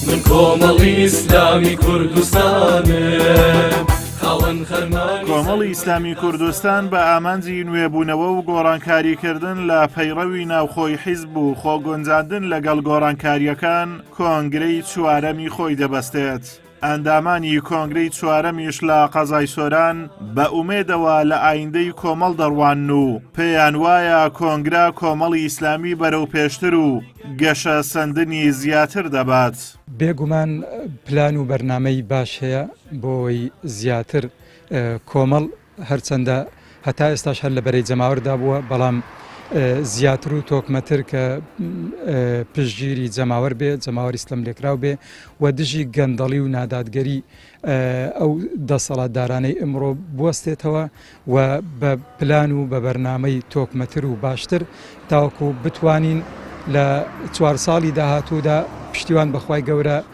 من کۆمەڵی ئیسلامی کوردستانم خاوەن خەرمانی کۆمەڵی ئیسلامی کوردستان بە ئامانجی نوێبوونەوە و گۆڕانکاریکردن لە پەیڕەوی ناوخۆی حیزب و خۆگونجاندن لەگەڵ گۆڕانکاریەکان کۆنگرەی چوارەمی خۆی دەبەستێت. ئەندامانی کۆنگرەی چوارەمیش لە قەزای سۆران بە ئومێدەوە لە ئایندەی کۆمەڵ دەڕوانن و پێیان وایە کۆنگرە کۆمەڵی ئیسلامی بەرەو پێشتر و گەشە سەندنی زیاتر دەبات. بێگومان پلان و بەرنامەی باش هەیە بۆ ئەوەی زیاتر کۆمەڵ هەرچەندە هەتا ئێستاش هەر لە بەرەی جەماوەردا بووە، بەڵام زیاتر و تۆکمەتر کە پشتگیری جەماوەر بێ، جەماوەری ستەملێکراو بێ و دژی گەندەڵی و نادادگەری ئەو دەسەڵاتدارانەی ئمڕۆ بوەستێتەوە و بە پلان و بە بەرنامەی تۆکمەتر و باشتر تاوەکو بتوانین لە چوار ساڵی داهاتوودا پشتیوان بەخوای گەورە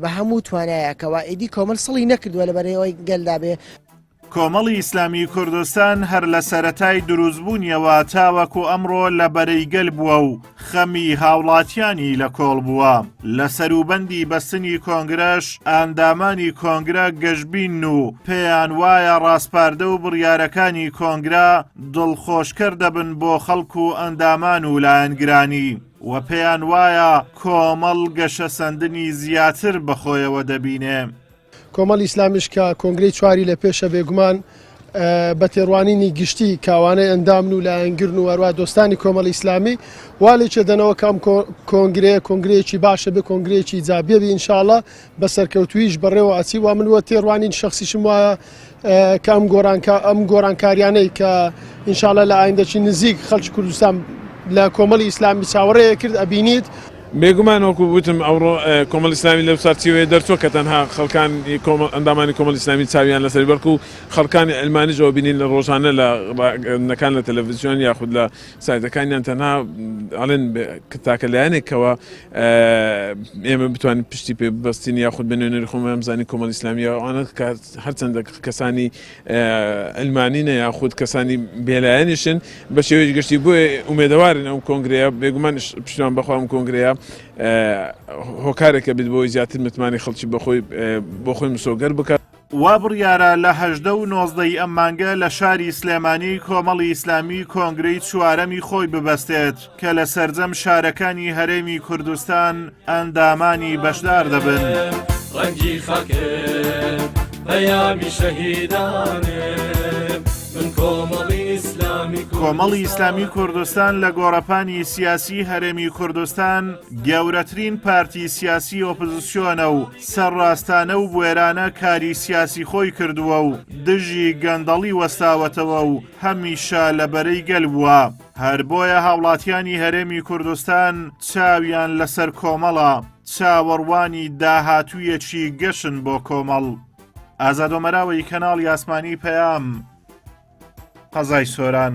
بە هەموو توانایەکەوە ئیدی کۆمەل سڵی نەکردووە لە بەرەوەی گەلدا بێ. کۆمەڵی ئیسلامی کوردستان هەر لە سەرەتای دروستبوونیەوە تاوەکو ئەمڕۆ لە بەرەی گەل بووە و خەمی هاوڵاتیانی لە کۆڵ بووە لە سەروبەندی بەستنی کۆنگرەش ئاندامانی کۆنگرە گەشببین و پێیان وایە ڕاسپاردە و بڕیارەکانی کۆنگرا دڵخۆشکەر دەبن بۆ خەڵک و ئەندامان و لایەنگرانی و پێیان وایە کۆمەڵ گەشەسەندنی زیاتر بە خۆیەوە دەبینێ. کۆمەڵی ئیسلامیش کە کۆنگرەی چواری لە پێشە بێگومان بە تێڕوانینی گشتی کاوانەی ئەندامن و لایەنگرن و هەروە دۆستانی کۆمەڵی ئیسلامی والێکێ دەنەوە کام کۆنگرەیە کۆنگرەیەکی باشە بێ کۆنگرەیەکی جابێبی ئینشاالله بە سەرکەوتوویش بەڕێوە ئەچی وا من وە تێڕوانین شخصیشم وایە کە ئەم گۆرانکە ئەم گۆرانکاریانەی کە ئینشاالە لە ئایندەچی نزیک خەلکی کوردستان لە کۆمەڵی ئیسلامی چاوەڕێ کرد ئەبینیت بێگومان وەکو وتم ئەوڕۆ کۆمەڵ ئیسلامی لەو چارچیوەیە دەرچوە کە تەنها خەڵکان ئەندامانی کۆمەڵ ئیسلامی چاویان لەسەر بەڵکو خەڵکانی ئەلمانیش ئەوە بینین لە ڕۆژانە لە ڕاگەندەکان لە تەلەڤزیۆن یاخود لە سایتەکانیان تەنها ئەڵێن تاکە لایەنێکەوە ئێمە بتوانین پشتی پێ ببەستین یاخود بە نوێنەری خۆمان ئەمزانی کۆمەڵ ئیسلامیە ئەوانە هەرچەندە کەسانی ئەلمانینە یاخود کەسانی بێلایەنیشن بە شێوەیەش گشتی بۆ ئومێدەوارن ئەو کۆنگرەیە بێگومان پشتوان بەخوام کۆنگرەیە هۆکارێکە بێت بۆی زیاتر متمانی خەڵکی بەخۆی بۆ خۆی مسۆگەر بکات. وا بڕیارە لە هەژدە و نۆزدە ی ئەم مانگە لە شاری سلێمانی کۆمەڵی ئیسلامی کۆنگرەی چوارەمی خۆی ببەستێت کە لە سەرجەم شارەکانی هەرێمی کوردستان ئەندامانی بەشدار دەبن. ڕەنگی خاکم پەیامی شەهیدانم من کۆمەڵی ئیسلامی کۆمەڵی ئیسلامی کوردستان لە گۆڕەپانی سیاسی هەرێمی کوردستان گەورەترین پارتی سیاسی ئۆپزسیۆنە و سەرڕاستانە و بوێرانە کاری سیاسی خۆی کردووە و دژی گەندەڵی وەستاوەتەوە و هەمیشە لە بەرەی گەل بووە هەر بۆیە هاوڵاتیانی هەرێمی کوردستان چاویان لەسەر کۆمەڵە چاوەڕوانی داهاتوویەکی گەشن بۆ کۆمەڵ ئازادۆمەراوەی کەناڵی ئاسمانی پەیام قەزای سۆران.